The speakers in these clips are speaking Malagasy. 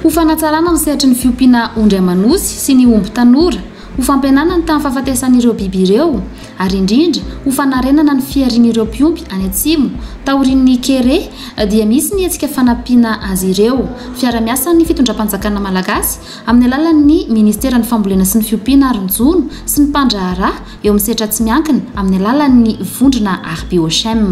Ho fanatsarana ny sehatry ny fiompiana ondry aman'osy sy ny omby tanora Ho fampihenana ny tahan'ny fahafatesan'ireo biby ireo ary indrindra ho fanarenana ny fiharian'ireo mpiompy any Atsimo taorian'ny kere dia misy ny hetsika fanampiana azy ireo fiarahamiasan'ny fitondram-panjakana malagasy amin'ny alalan'ny ministeran'ny fambolena sy ny fiompiana ary ny jono sy ny mpandraharaha eo amin'ny setra tsy miankina amin'ny alalan'ny vondrona Arbiochem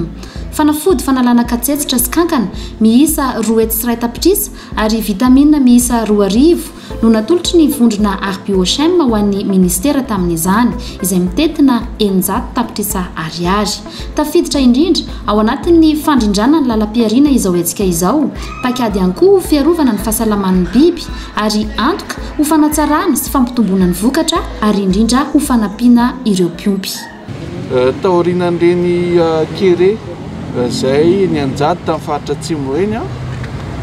fanafody fanalana katsetsitra sy kankana miisa roa hetsy sy iray tapitrisa ary vitamina miisa roa arivo no natolotry ny vondrona Arbiochem ho an'ny minisitera tamin'izany, izay mitety na eninjato tapitrisa ariary. Tafiditra indrindra ao anatin'ny fandrindrana ny lalam-pihariana izao hetsika izao, paikady ihany koa ho fiarovana ny fahasalaman'ny biby ary antoka ho fanatsarana sy fampitomboana ny vokatra ary indrindra ho fanampiana ireo mpiompy. Taorian'ireny kere izay nianjady tamin'ny faritra Atsimo ireny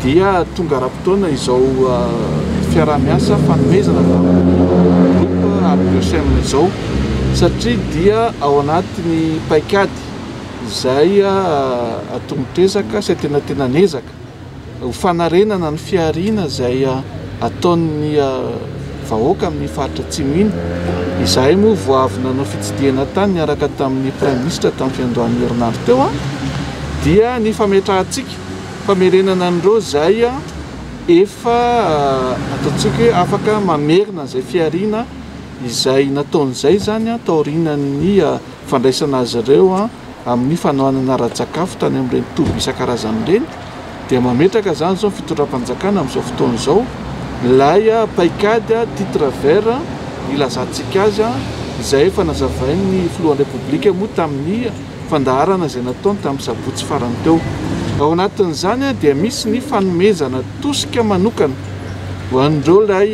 dia tonga ara-potoana izao fiaraha-miasa fanomezana tamin'ny groupe Arc'Sem izao satria dia ao anatin'ny paikady izay atomotr'ezaka sy antenatenan'ezaka. ho fanarenana ny fihariana izay ataon'ny vahoaka amin'ny faritra Atsimo iny. Izahay moa vao avy nanao fitsidihana tany niaraka tamin'ny Praiminisitra tamin'ny fiandohan'ny herinandro teo dia ny fametrahantsika famerenana an'ireo izay efa ataontsika hoe afaka mamerina izay fihariana izay nataony izay izany taorianan'ny fandraisana azy ireo amin'ny fanohanana ara-tsakafo tany amin'ireny toby isan-karazany ireny dia mametraka izany izao ny fitondram-panjakana amin'izao fotoana izao ilay paikady titre vert ilazantsika azy izay efa nazavain'ny filohan'ny repoblika moa tamin'ny fandaharana izay nataony tamin'ny sabotsy farany teo ao anatin'izany dia misy ny fanomezana tosika manokana ho an'ireo ilay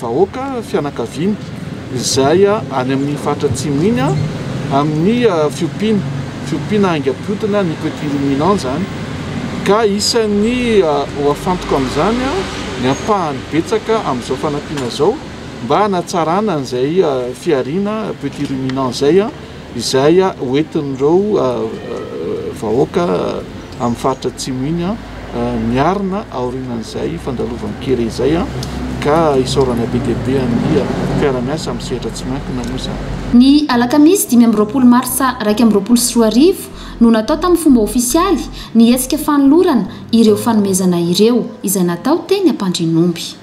vahoaka fianakaviana izay any amin'ny faritra atsimo iny amin'ny fiompiana fiompiana haingam-piotona ny petit ruminant izany ka isan'ny ho afantoka amin'izany ny ampahany betsaka amin'izao fanampiana izao mba hanatsarana an'izay fihariana petit ruminant izay Izay hoentin'ireo vahoaka amin'ny faritra Atsimo iny miarina aorianan'izay fandalovan-kere izay ka isaorana be dia be amin'ny fiara-miasa amin'ny sehatra tsy miankina moa izany. Ny alakamisy dimy amby roapolo marsa iraika amby roapolo sy roa arivo no natao tamin'ny fomba ofisialy ny hetsika fanolorana ireo fanomezana ireo, izay natao teny Ampandrianomby.